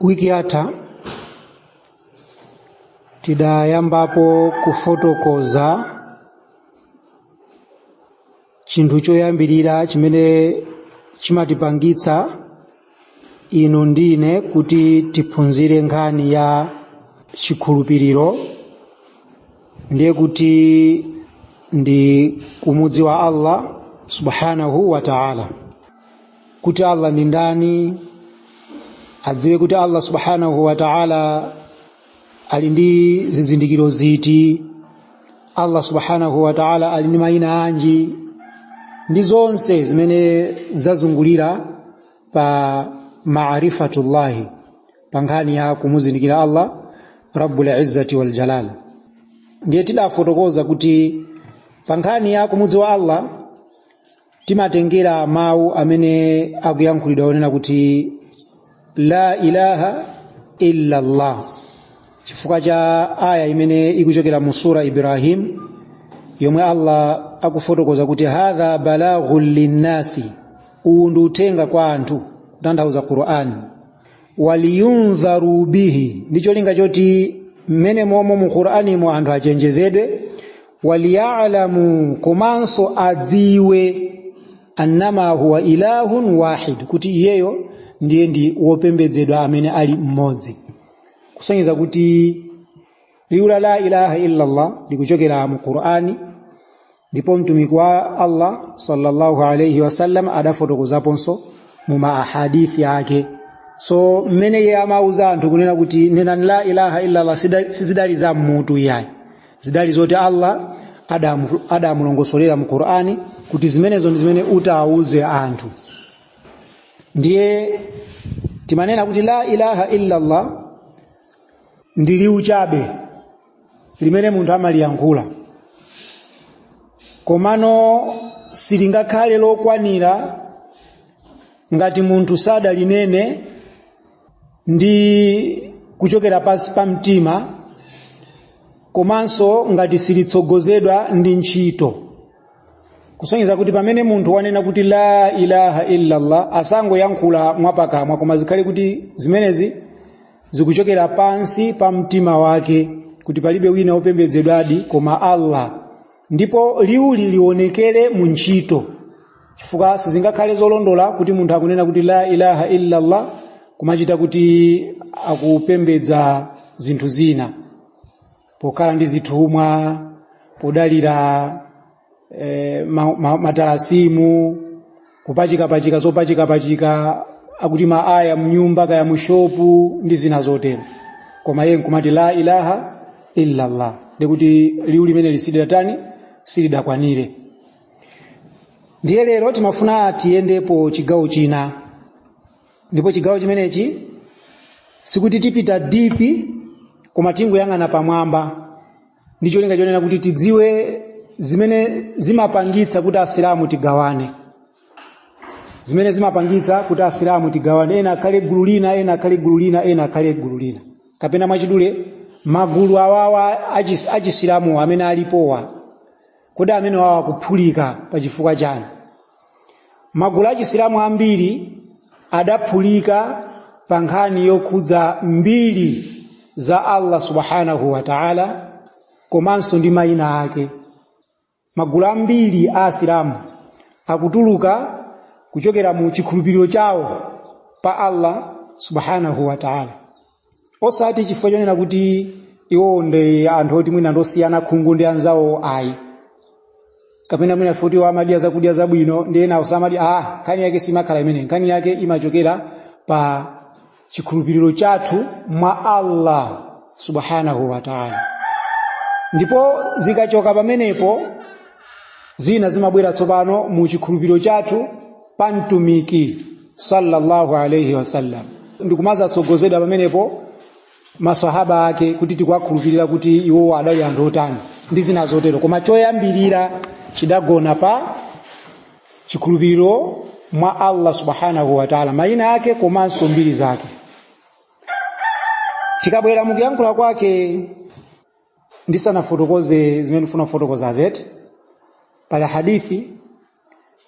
wiki yatha tidayambapo kufotokoza chinthu choyambirira chimene chimatipangitsa inu ndine kuti tiphunzire nkhani ya chikhulupiriro ndiye kuti ndi kumudziwa allah subhanahu wa ta'ala kuti allah ndi ndani adziwe kuti allah subhanahu wa taala ali ndi zizindikiro ziti allah subhanahu wa taala ali ndi mayina anji ndi zonse zimene zazungulira pa marifatullahi pa nkhani ya kumuzindikira allah rabbul izzati wal jalal ndiye tidafotokoza kuti pa nkhani ya kumudziwa allah timatengera mawu amene akuyankhulidwa onena kuti la ilaha illa llah chifukwa cha aya imene ikuchokera mu sura ibrahim yomwe allah akufotokoza kuti hadha balaghun linnasi uwu ndi uthenga kwa anthu kutanthauza qur'ani waliyundharu bihi ndi cholinga choti mmene momo mu qur'animo anthu achenjezedwe waliyalamu komanso adziwe annama huwa ilahun wahid kuti iyeyo ndiye ndi wopembedzedwa amene ali mmodzi kusonyeza kuti liwu la la ilaha illallah likuchokera mu qur'ani ndipo mtumiki wa allah sallallahu alaihi wasallam adafotokozaponso mu maahadithi ake so mmene iye amauza anthu kunena kuti nenani la ilaha illallah sizidali za m'mutu iyayi zidali zoti allah adamulongosolera mu qur'ani kuti zimenezo ndi zimene utauze anthu ndiye timanena kuti la ilaha illa allah ndi liwu chabe limene munthu amaliyankhula komano silingakhale lokwanira ngati munthu sadalinene ndi kuchokera pansi pa mtima komanso ngati silitsogozedwa ndi ntchito kusonyeza kuti pamene munthu wanena kuti la ilaha illallah asangoyankhula mwapakamwa koma zikhale kuti zimenezi zikuchokera pansi pa mtima wake kuti palibe wina wopembedzedwadi koma allah ndipo liwuli lionekere mu ntchito chifukwa sizingakhale zolondola kuti munthu akunena kuti la ilaha illallah kumachita kuti akupembedza zinthu zina pokhala ndi zithumwa podalira eh, ma- ma- matalasimu kupachikapachika zopachikapachika akuti maaya mnyumba kaya mushopu ndi zina zotero koma iye nkumati la ilaha illallah ndikuti liwu limene lisidatani silidakwanire ndiye lero timafuna tiyendepo chigawo china ndipo chigawo chimenechi sikuti tipita dipi koma tingoyang'ana pamwamba ndi cholinga chonena kuti tidziwe zimene zimapangitsa kuti asilamu tigawane zimene zimapangitsa kuti asilamu tigawane ena akhale gulu lina ena akhale gulu lina ena akhale gulu lina kapena mwachidule magulu awawa achis- achisilamuwa amene alipowa kodi amene awa akuphulika pa chifukwa chani magulu achisilamu ambiri adaphulika pa nkhani yokhudza mbiri za allah subhanahu wa taala komanso ndi mayina ake magulu ambiri a asilamu akutuluka kuchokera mu chikhulupiriro chawo pa allah subhanahu wa taala osati chifukwa chonena kuti iwowo ndi anthu oti mwina ndosiyana khungu ndi anzawo ayi kapena mwina futi iwo amadya zakudya zabwino ndi ena osamadi ah nkhani yake simakhala imene nkhani yake imachokera pa chikhulupiriro chathu mwa allah subhanahu wa taala ndipo zikachoka pamenepo zina zimabwera tsopano mu chikhulupiriro chathu pa mtumiki sallallahu alaihi wasallam ndikumazatsogozedwa pamenepo maswahaba ake kuti tikuwakhulupirira kuti iwowo adali anthu otani ndi zina zotero koma choyambirira chidagona pa chikhulupiriro mwa allah subhanahu wataala mayina ake komanso mbiri zake tikabwera mukuyankhula kwake ndisanafotokoze zimene ndifuna kufotokoza zeti pali hadithi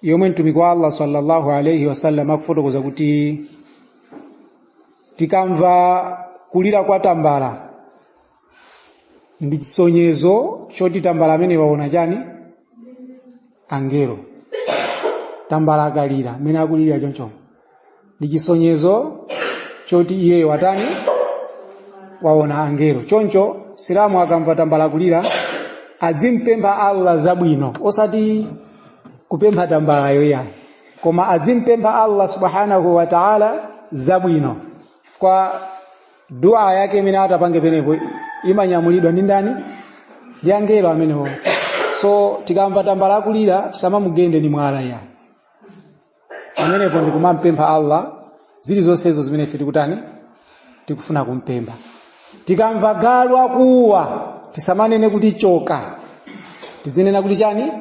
yomwe mtumiki wa allah sallallahu alaihi wasallam akufotokoza kuti tikamva kulira kwa tambala ndi chisonyezo choti tambala amene waona chani angelo tambala akalira mmene akulira chonchoncho ndi chisonyezo choti iyeyo watani waona angelo choncho silamu akamva tambala kulira adzimpempha allah zabwino osati kumpempha tambalayo iyayi koma adzimpempha allah subhanahu wa taala zabwino chifukwa dua yake imene atapange penepo imanyamulidwa ndi ndani ndi angelo amenewo so tikamva tambala akulira tisamamugende ni mwala iyayi pamenepo ndi kumampempha allah zilizonsezo zimene ife tikutani tikufuna kumpempha tikamva galu akuwa tisamanene kuti choka tizinena kuti chani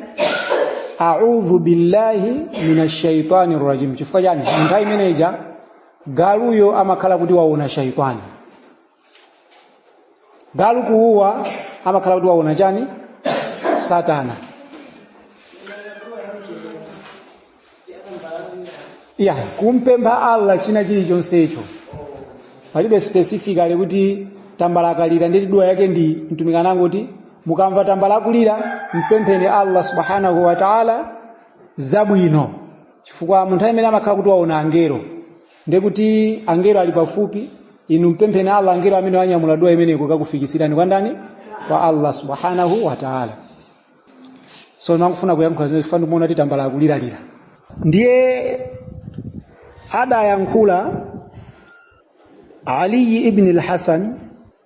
audhu billahi minash shaitani rajim chifukwa chani munthawi imeneja galuyo amakhala kuti waona shaitani galu kuuwa amakhala kuti waona chani satana ya kumpempha allah china chilichonsecho palibe specifically kuti tambala akalira ndiye dua yake ndi mtumiki anangoti mukamva tambala akulira mpempheni allah subhanahu wa taala zabwino chifukwa munthawi imene amakhala kuti waona angelo ndiye kuti angelo ali pafupi inu mpempheni Allah angelo amenewo anyamula dua imeneyo kukakufikitsirani kwa ndani kwa Allah subhanahu wa ta'ala so ndimafuna kuyankhula zimene chifukwa ndimaona tambala akuliralira ndiye adayankhula Ali ibn al-Hasan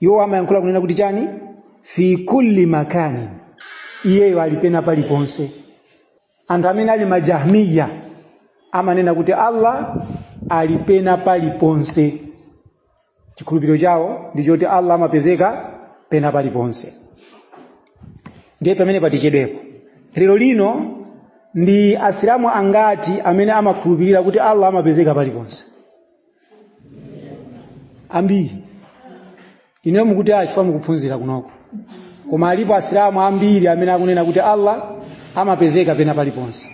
iwo amayankhula kunena kuti chani fi kulli makani iyeyo ali pena paliponse anthu amene ali majahmiya amanena kuti allah ali pena paliponse chikhulupiriro chawo ndi choti allah amapezeka pena paliponse ndiye pamene patichedwetsepo lero lino ndi asilamu angati amene amakhulupirira kuti allah amapezeka paliponse ambiri inuyo mukuti a chifukwa mukuphunzira kunoko koma alipo asilamu ambiri amene akunena kuti allah amapezeka pena paliponse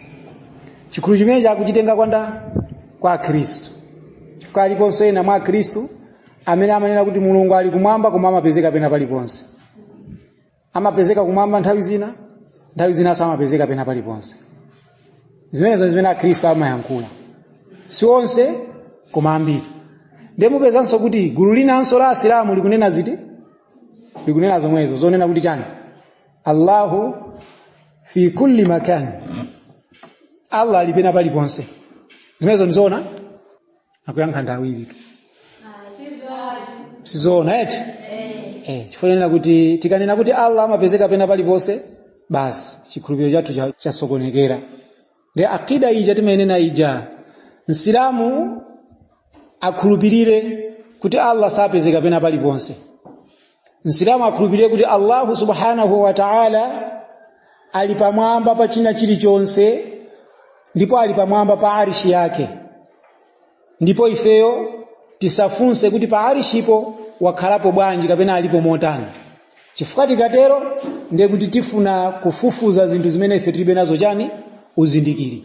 chikhulupiriro chimene akuchitenga kwa ndani kwa akhristu chifukwa aliponso ena mwa akhristu amene amanena kuti mulungu ali kumwamba koma amapezeka pena paliponse amapezeka kumwamba nthawi zina nthawi zinanso amapezeka pena paliponse zimenezo ndi zimene akhristu amayankhula si onse koma ambiri ndiye mupezanso kuti gulu linanso la asilamu likunena ziti likunena zomwezo zonena kuti chani allahu fi kulli makani allah ali pena paliponse zimenezo ndizoona akuyankha ndi awiri tu sizoona eti eh chifukwa nena kuti tikanena kuti Allah amapezeka pena paliponse basi chikhulupiriro chathu cha- chasokonekera ndi aqida ija timayenena ija msilamu akhulupirire kuti Allah sapezeka pena paliponse msilamu akhulupirire kuti allahu subhanahu wa taala ali pamwamba pa china chilichonse ndipo ali pamwamba pa arishi yake ndipo ifeyo tisafunse kuti pa arishipo wakhalapo bwanji kapena alipo motani chifukwa tikatero ndiye kuti tifuna kufufuza zinthu zimene ife tilibe nazo chani uzindikiri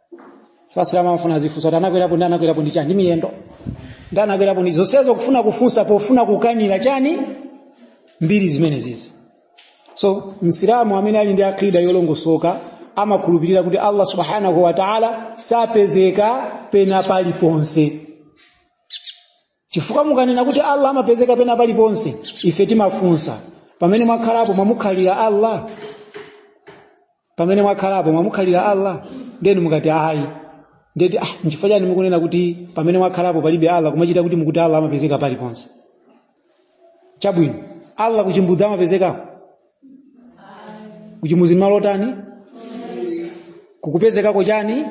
asilamu amafuna azifunsa kuti anakwerapo ndi anakwerapo ndi chani ndi miyendo ndi anakwerapo ndi zonsezo kufuna kufunsa pofuna kukanira chani mbiri zimenezizi so msilamu amene ali ndi aqida yolongosoka amakhulupirira kuti allah subhanahu wa taala sapezeka pena paliponse chifukwa mukanena kuti allah amapezeka pena paliponse ife timafunsa pamene mwakhalapo mwamukhalira allah pamene mwakhalapo mwamukhalira allah ndeni mukati ayi ndeti ah, nchifukwa chani mukunena kuti pamene mwakhalapo palibe allah kumachita kuti mukuti allah amapezeka paliponse chabwino allah kuchimbudzi amapezekapo kuchimbudzi malo otani kukupezekako chani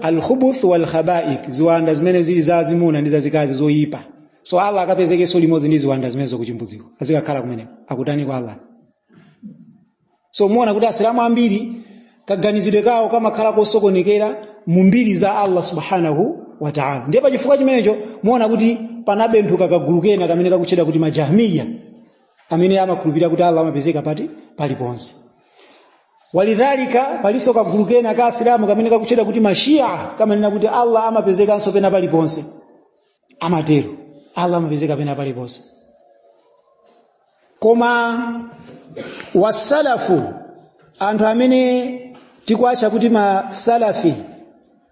alkhubuth walkhabaith ziwanda zimene zili za azimuna ndi zazikazi zoyipa so allah akapezekenso limodzi ndi ziwanda zimenezo kuchimbudziko azikakhala kumeneko akutani kwa allah so muona kuti asilamu ambiri kaganizidwe kawo kamakhala kosokonekera mu mbiri za allah subhanahu wa taala ndiye pa chifukwa chimenecho muona kuti panabenthuka kagulu kena kake kamene kakutchedwa kuti majahmiya amene amakhulupirira kuti allah amapezeka pati paliponse walidhalika palinso kagulu kena ka asilamu kamene kakutchedwa kuti mashia kamanena kuti allah amapezekanso pena paliponse amatero allah amapezeka pena paliponse koma wasalafu anthu amene tikuwatcha kuti masalafi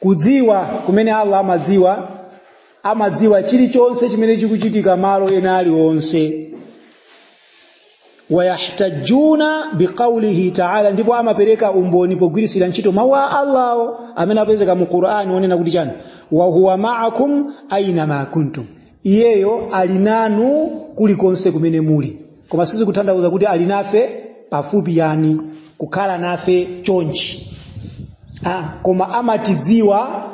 kudziwa kumene allah amadziwa amadziwa chilichonse chimene chikuchitika malo ena aliwonse wayahtajuna biqaulihi taala ndipo amapereka umboni pogwiritsira ntchito mawu a allawo amene apezeka mu qur'ani onena kuti chani wahuwa maakum aina ma kuntum iyeyo ali nanu kulikonse kumene muli koma sizikutanthauza kuti ali nafe pafupi yani kukhala nafe chonchi ah, koma amatidziwa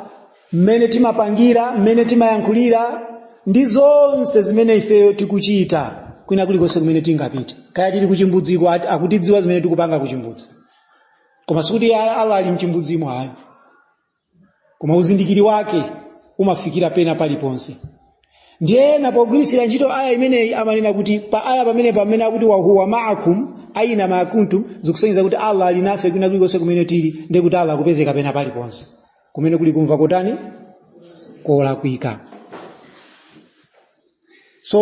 mmene timapangira mmene timayankhulira ndi zonse zimene ifeyo tikuchita kwina kulikonse kumene tingapita kaya tili kuchimbudziko ati- akutidziwa zimene tikupanga kuchimbudzi koma sikuti ya- allah ali mchimbudzimo ayi koma uzindikiri wake umafikira pena paliponse ndiye ena pogwiritsira ntchito aya imeneyi amanena kuti pa aya pamene pamene akuti wahuwa maakum aina maa kuntum zikusonyeza kuti allah ali nafe kwina kulikonse kumene tili ndiye kuti allah akupezeka pena paliponse kumene kuli kumva kotani kolakwika so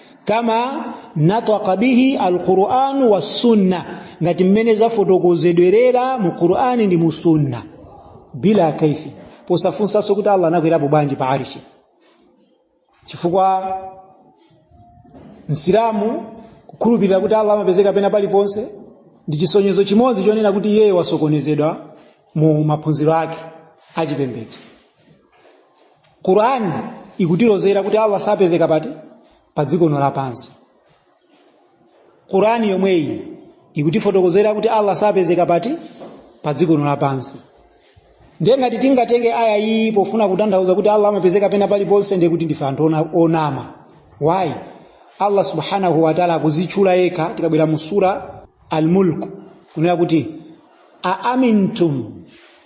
kama nataqa bihi alquran wassunna ngati mmene zafotokozedwerera mu qurani ndi mu sunna bila kaifi posafunsanso kuti allah anakwerapo bwanji pa arishi chifukwa msilamu kukhulupirira kuti allah amapezeka pena paliponse ndi chisonyezo chimodzi chonena kuti iyeyo wasokonezedwa mu maphunziro ake achipembedzo qurani ikutilozera kuti allah sapezeka pati pa dziko lapansi qurani yomweyi ikutifotokozera kuti allah sapezeka pati pa dziko lapansi ndiye ngati tingatenge aya iyi pofuna kutanthauza kuti allah amapezeka pena paliponse ndiye kuti ndife anthu ona- onama why allah subhanahu wataala akuzitchula yekha tikabwera mu sura almulk kunena kuti aamintum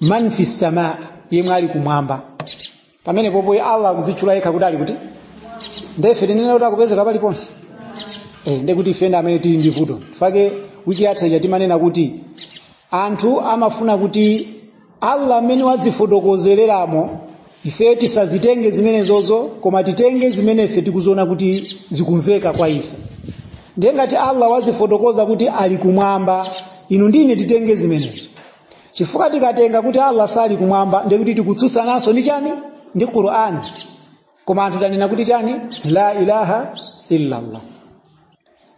man fi samaa yemwe ali kumwamba pamenepopo allah akuzitchula yekha kuti ali kuti ndefe tinene kuti akupezeka paliponse eh, nde kuti ife ndi amene tili ndi vuto nchifake wiki yatha ija timanena kuti anthu amafuna kuti allah mmene wazifotokozereramo ife tisazitenge zimenezozo koma titenge zimene ife tikuziona kuti zikumveka kwa ife ndiye ngati allah wazifotokoza kuti ali kumwamba inu ndi ine titenge zimenezo chifukwa tikatenga kuti allah sali kumwamba ndiye kuti tikutsutsananso ndi chani ndi qur'an koma anthu tanena kuti chani la ilaha illallah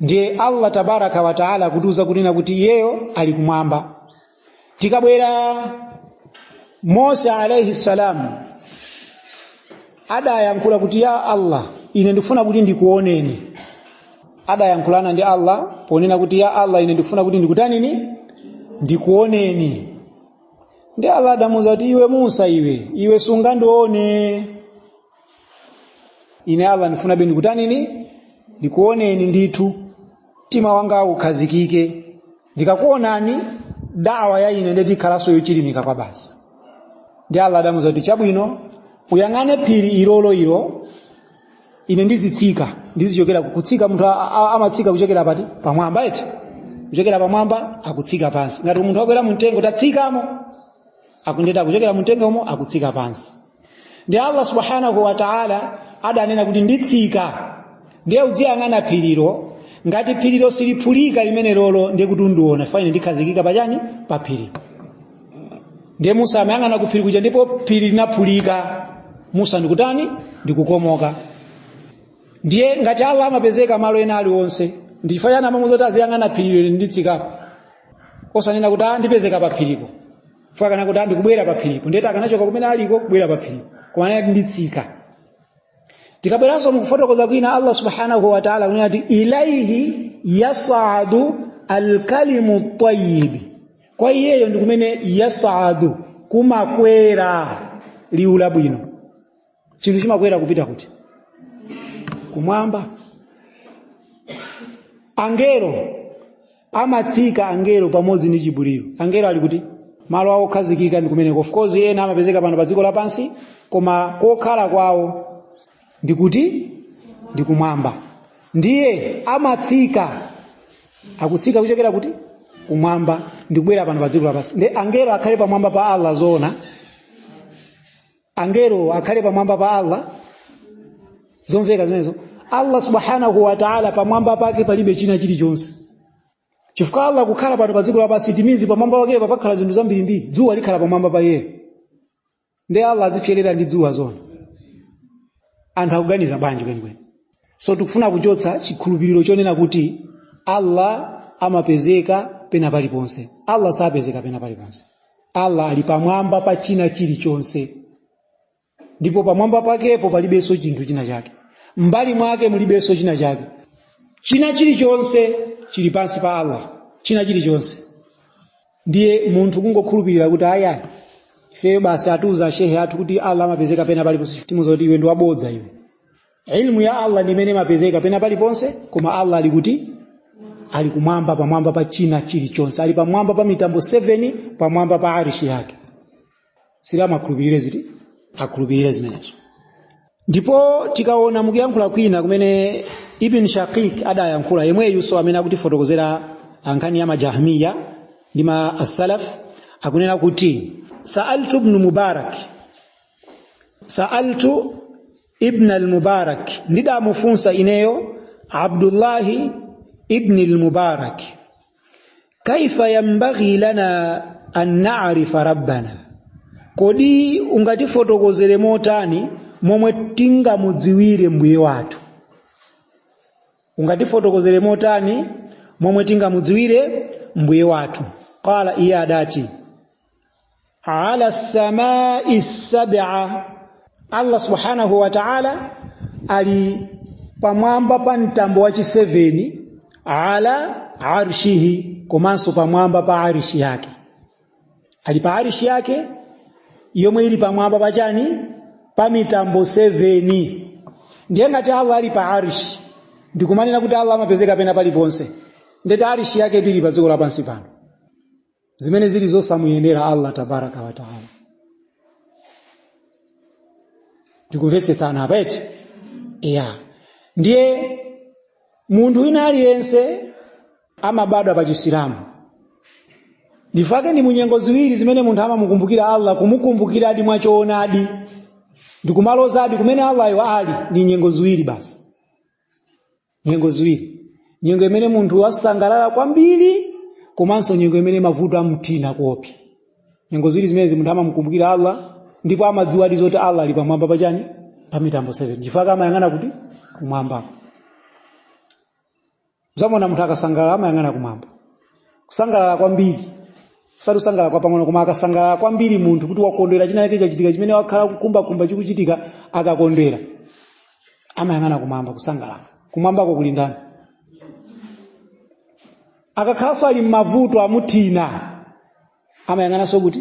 ndiye allah tabaraka wa taala akutiuza kunena kuti iyeyo ali kumwamba tikabwera musa alaihi salamu adayankhula kuti ya allah ine ndikufuna kuti ndikuoneni adayankhulana ndi allah ponena kuti ya allah ine ndikufuna kuti ndikutanini ndikuoneni ndi allah adamuuza kuti iwe musa iwe iwe sungandione ine allah ndifunabe ndikutanini ndikuoneni ndithu mtima wanga ukhazikike ndikakuonani daawa ya ine ndeti ikhalanso yochilimika kwabasi ndi allah adamuuza kuti chabwino uyang'ane phiri ilolo ilo ine ndizitsika ndizichokera kutsika munthu a- a- amatsika kuchokera pati pamwamba eti kuchokera pamwamba akutsika pansi ngati munthu wakwera mumtengo tatsikamo akundeti kuchokera mumtengomo akutsika pansi ndiye allah subhanahu wa taala adanena kuti nditsika ndiye uziyang'ana phirilo ngati phirilo siliphulika limenelolo ndiye kuti undiona fine ndikhazikika pachani pa phiri ndiye musa amayang'ana ku phiri kuja ndipo phiri linaphulika musa ndikutani ndikukomoka ndiye ngati allah amapezeka malo ena aliwonse ndichifukwa chani amamuuza kuti aziyang'ana phirilo nditsikapo osanena kuti a ndipezeka pa phiripo chifukwa akanakuti ndikubwera pa phiripo ndiye kuti akanachoka kumene aliko kubwera pa phiripo koma anati nditsika tikabweranso mukufotokoza kwina allah subhanahu wa taala akunena kuti ilaihi yasadu alkalimu tayibi kwa iyeyo ndi kumene yasadu kumakwera liwu labwino chinthu chimakwera kupita kuti kumwamba angelo amatsika angelo pamodzi ndi jibulilo angelo ali kuti malo awo okhazikika ndi kumeneko of course ena amapezeka pano pa dziko lapansi koma kokhala kwawo ndi kuti ndi kumwamba ndiye amatsika akutsika kuchokera kuti kumwamba ndi kubwera pano pa dziko lapansi ndiye angelo akhale pamwamba pa allah zoona angelo akhale pamwamba pa allah zomveka zimenezo allah subhanahu wa taala pamwamba pake palibe china chilichonse chifukwa allah kukhala pano pa dziko lapansi it means pamwamba pake pakhala zinthu zambirimbiri dzuwa likhala pamwamba pa iyeyo ndiye allah azipserera ndi dzuwa zoona anthu akuganiza bwanji kwenikweni so tikufuna kuchotsa chikhulupiriro chonena kuti allah amapezeka pena paliponse allah sapezeka pena paliponse allah ali pamwamba pa china chilichonse ndipo pamwamba pakepo palibenso chinthu china chake m'mbali mwake mulibenso china chake china chilichonse chili pansi pa allah china chilichonse ndiye munthu kungokhulupirira kuti ayayi ifeyo basi atiuza shehe athu kuti allah amapezeka pena paliponse timuuza kuti iwe ndi wabodza iwe ilmu ya allah ndi imene imapezeka pena paliponse koma allah ali kuti ali kumwamba pamwamba pa china chilichonse ali pamwamba pa mitambo 7 pamwamba pa arishi yake asilamu akhulupirire ziti akhulupirire zimenezo ndipo tikaona mukuyankhula kwina kumene ibn shaqiq adayankhula yemweyunso amene akutifotokozera za nkhani ya majahmiya ndi ma assalaf akunena kuti saaltu ibnu mubarak saaltu ibn al-mubarak ndidamufunsa ineyo abdullahi ibn al-mubarak kaifa yambaghi lana an na'rifa rabbana kodi ungatifotokozere motani momwe tingamudziwire mbuye wathu ungatifotokozere motani momwe tingamudziwire mbuye wathu qala iye adati ala samai sab'a allah subhanahu wa ta'ala ali pamwamba pa mtambo wa chiseveni ala arshihi komanso pamwamba pa arishi yake ali pa arishi yake yomwe ili pamwamba pa chani pa mitambo 7 ndiye ngati allah ali pa arishi ndikumanena kuti allah amapezeka pena paliponse ndeti arishi yake ili pa dziko lapansi pano zimene zili zosamuyenera allah tabaraka wataala tikumvetsetsana apa eti ya ndiye munthu wina aliyense amabadwa pa chisilamu ndifake ndi munyengo ziwiri zimene munthu amamukumbukira allah kumukumbukiradi mwachoonadi ndikumalozadi kumene allayo ali ndi nyengo ziwiri basi nyengo ziwiri nyengo imene munthu wasangalala kwambiri komanso nyengo imene mavuto amthina kuopsa nyengo ziwiri zimenezi munthu amamukumbukira allah ndipo amadziwadi zoti allah ali pamwamba pachani pa mitambo 7 ndifake amayang'ana kuti kumwamba mudzaona munthu akasangalala amayang'ana kumwamba kusangalala kwambiri kusati kusangalala kwapang'ono koma akasangalala kwambiri munthu kuti wakondwera china chake chachitika chimene wakhala akukhumbakhumba chikuchitika akakondwera amayang'ana kumwamba kusangalala kumwambako kuli ndani akakhalanso ali m'mavuto amuthina amayang'ananso kuti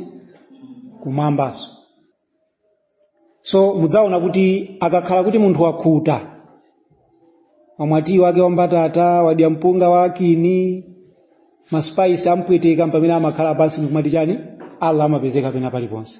kumwambanso so mudzaona kuti akakhala kuti munthu wakhuta wamwa tiyi wake wambatata wadya mpunga wankhuni masipaisi ampweteka mpamene amakhala pansi ndikumati chani allah amapezeka pena paliponse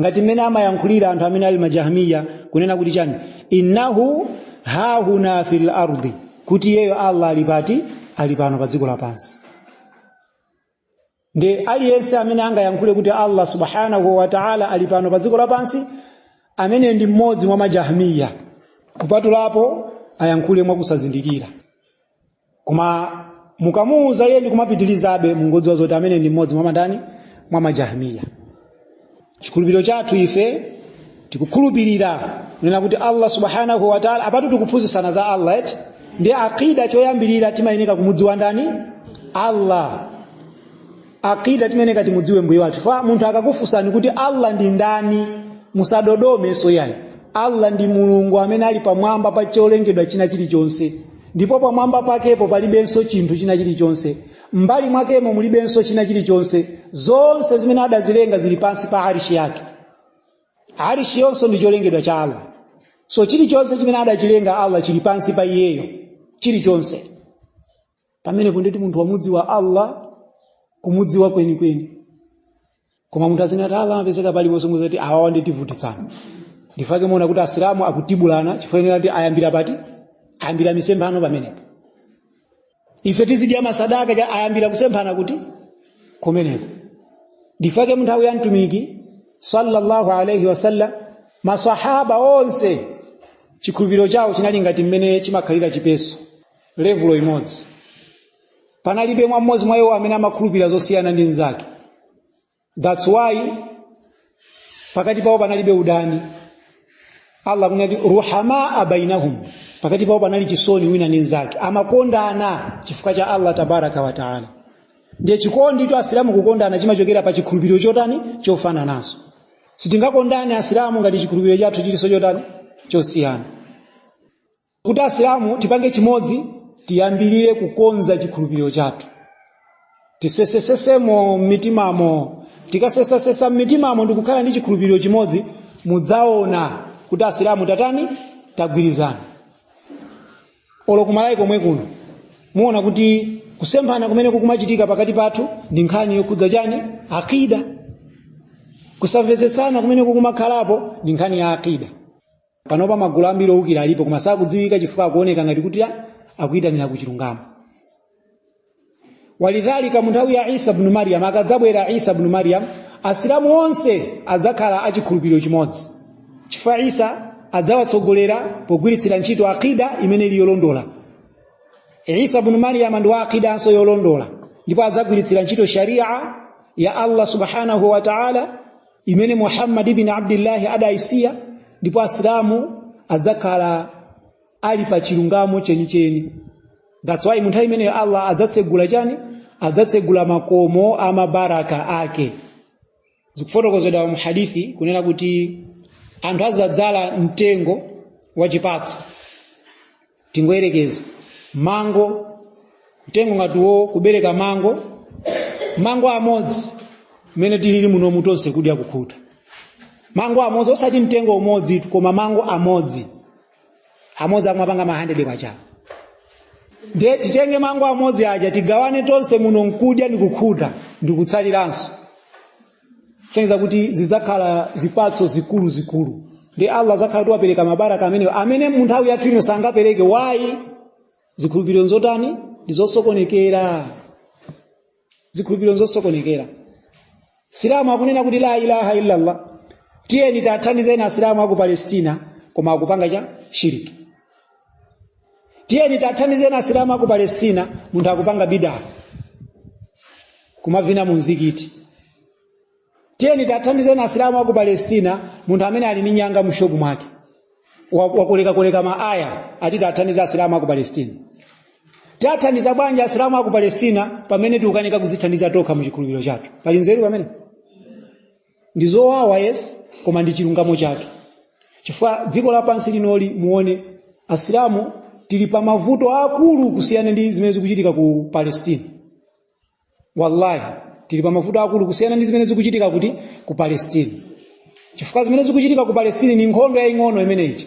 ngati mmene amayankhulira anthu amene ali majahmiya kunena kuti chani innahu hahuna fil ardi kuti iyeyo allah ali pati ali pano pa dziko lapansi nde aliyense amene angayankhule kuti allah subhanahu wa ta'ala ali pano pa dziko lapansi amene ndi mmodzi mwa majahmiya kupatulapo ayankhule mwakusazindikira koma mukamuuza iye ndi kumapitirizabe mungodziwa zoti amene ndi mmodzi mwa mandani mwa majahmiya chikhulupiriro chathu ife tikukhulupirira kunena kuti allah subhanahu wa taala apatu tikuphunzitsana za allah eti ndi aqida choyambirira timayeneka kumudziwa ndani allah aqida timayeneka timudziwe mbuye wathu fa munthu akakufunsani kuti allah ndi ndani musadodomenso yayi allah ndi mulungu amene ali pamwamba pa cholengedwa china chilichonse ndipo pamwamba pakepo palibenso chinthu china chilichonse m'mbali mwakemo mulibenso china chilichonse zonse zimene adazilenga zili pansi pa arishi yake arishi yonso ndi cholengedwa cha allah so chilichonse chimene adachilenga allah chili pansi pa iyeyo chilichonse pamenepo ndiye kuti munthu wamudziwa allah kumudziwa kwenikweni koma munthu akunena kuti allah amapezeka paliponse muzati awawa nditivutitsana nchifukwa chake muona kuti asilamu akutibulana chifukwa choti ayambira pati ayambira misemphano pamenepo ife tizidya masadaka cha ayambira kusemphana kuti kumeneko nchifukwa chake munthawi ya mtumiki sallallahu alaihi wasallam masahaba onse chikhulupiriro chawo chinali ngati mmene chimakhalira chipeso levulo imodzi panalibe mwa mmodzi mwa iwo amene amakhulupirira zosiyana ndi mnzake that's why pakati pawo panalibe udani allah akunena kuti ruhamaa bainahum pakati pawo panali chisoni wina ndi mnzake amakondana chifukwa cha allah tabaraka wa taala ndiye chikonditu asilamu kukondana chimachokera pa chikhulupiriro chotani chofanananso sitingakondane asilamu ngati chikhulupiriro chathu chilinso chotani chosiyana kuti asilamu tipange chimodzi tiyambirire kukonza chikhulupiriro chathu tisesesesemo m'mitimamo tikasesasesa m'mitimamo ndikukhala ndi chikhulupiriro chimodzi mudzaona kuti asilamu tatani tagwirizana olo kuMalawi komwe kuno muona kuti kusemphana kumene kukumachitika pakati pathu ndi nkhani yokhudza chani akida kusamvetsetsana kumene kukumakhalapo ndi nkhani ya akida panopa magulu ambiri owukira alipo koma sakudziwika chifukwa akuoneka ngati kuti a- akuyitanira ku chilungamo walidhalika mu nthawi ya isa bnu maryam akadzabwera isa bnu maryam asilamu onse adzakhala achikhulupiriro chimodzi chifukwa isa adzawatsogolera pogwiritsira ntchito akida imene ili yolondola isa bnu maryam ndi wa akidanso yolondola ndipo adzagwiritsira ntchito sharia ya allah subhanahu wa taala imene muhammad ibn abdillahi adayisiya ndipo asilamu adzakhala ali pa chilungamo chenicheni that's why munthawi imeneyo allah adzatsegula chani adzatsegula makomo a mabaraka ake zikufotokozedwa mu hadithi kunena kuti anthu adzadzala mtengo wa chipatso tingoyerekeza mango mtengo ngati wo kubereka mango mango amodzi mmene tilili munomu tonse kudya kukhuta mango amodzi osati mtengo umodzitu, koma mango amodzi amodzi akumapanga ma 100 kwacha nde titenge mango amodzi aja tigawane tonse muno nkudya ndikukhuta ndikutsaliranso kusonyeza kuti zidzakhala zipatso zikuluzikulu ndiye allah adzakhala kuti wapereka mabaraka amenewo amene mu nthawi yathu ino sangapereke why zikhulupiriro nzotani ndi zosokonekera zikhulupiriro nzosokonekera msilamu akunena kuti la ilaha illallah tiyeni tathandizeni asilamu aku palestina koma akupanga cha shiriki tiyeni tathandizeni asilamu aku palestina munthu akupanga bidaa kumavina mu mzikiti tiyeni tathandizeni asilamu aku palestina munthu amene ali ndi nyanga mushopu mwake wakolekakoleka maaya ati tathandizani asilamu aku palestina tathandiza bwanji asilamu aku palestina pamene tikukanika kuzithandiza tokha mu chikhulupiriro chathu pali nzeru pamene ndi zowawa yes koma ndi chilungamo chathu chifukwa dziko lapansi linoli muone asilamu tili pa mavuto akulu kusiyana ndi zimene zikuchitika ku palestina wallahi tili pa mavuto akulu kusiyana ndi zimene zikuchitika kuti ku palestina chifukwa zimene zikuchitika ku palestina ni nkhondo yaying'ono imeneyi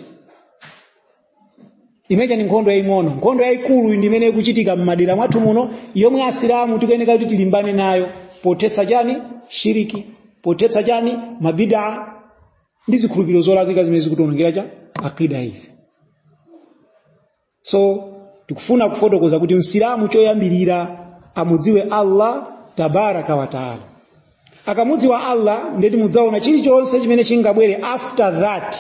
imeja ni nkhondo yaying'ono nkhondo yayikulu ndi imene ikuchitika m'madera mwathu muno yomwe asilamu tikuyeneka kuti tilimbane nayo pothetsa chani shiriki pothetsa chani mabidaa ndi zikhulupiriro zolakwika zimene zikutionongera chani akida ife so tikufuna kufotokoza kuti msilamu choyambirira amudziwe allah tabaraka wataala akamudziwa allah ndeti mudzaona chilichonse chimene chingabwere after that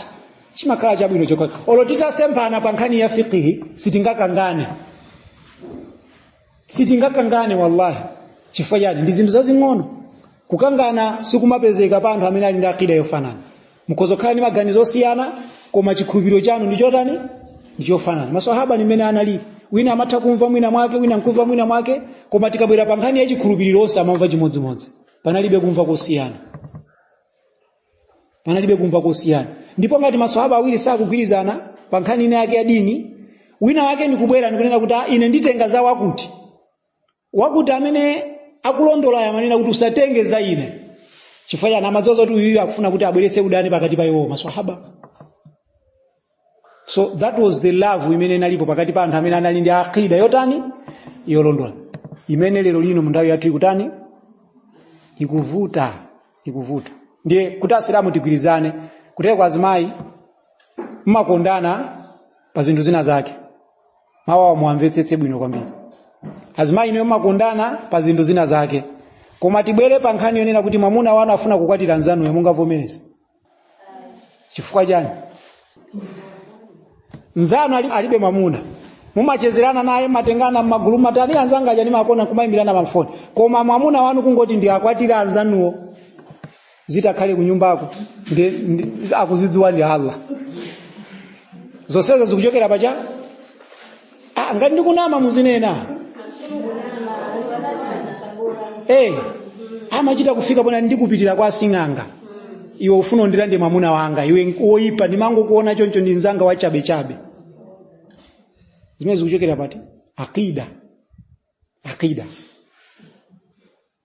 chimakhala chabwino chokhachokha olo titasemphana pa nkhani ya fiqihi sitingakangane sitingakangane wallahi chifukwa chani ndi zinthu zazing'ono kukangana sikumapezeka pa anthu amene ali ndi akida yofanana mukhoza kukhala ndi maganizo osiyana koma chikhulupiriro chanu ndi chotani ndi chofanana maswahaba ndi mmene analili wina amatha kumva mwina mwake wina nkumva mwina mwake koma tikabwera pa nkhani ya chikhulupiriro onse amamva chimodzimodzi panalibe kumva kosiyana panalibe kumva kosiyana ndipo ngati maswahaba awiri sakugwirizana pa nkhani ina yake ya dini wina wake ndikubwera ndikunena kuti "Ah, ine nditenga za wakuti wakuti amene akulondolayo amanena kuti usatenge za ine chifukwa chani amadziwa zoti uyuyu akufuna kuti abweretse udani pakati pa iwowo maswahaba so that was the love imene inalipo pakati pa anthu amene anali ndi aqida yotani yolondola imene lero lino munthawi yathu ikutani ikuvuta ikuvuta ndiye kuti asilamu tigwirizane kuteroko kwa azimayi mmakondana pa zinthu zina zake mawuwa muwamvetsetse bwino kwambiri azimayi inuyo mmakondana pa zinthu zina zake koma tibwere pa nkhani yonena kuti mwamuna wanu afuna kukwatira nzanuyo mungavomereza chifukwa chani nzanu ali- alibe mwamuna mumachezerana naye mmatengana mmagulu matani anzanga aja nimakonda kumayimbirana pamfoni koma mwamuna wanu kungoti ndi akwatira anzanuwo zitakhale kunyumbako ndi- ndi- akuzidziwa ndi allah zonsezo zikuchokera pachani Ah, ngati ndikunama muzinena Eh, amachita kufika pomakandipitira kwa sing'anga iwe ufuna undirande mwamuna wanga iwe woipa ndimangokuona choncho ndi mzanga wa chabe chabe zimene zikuchokera pati akida akida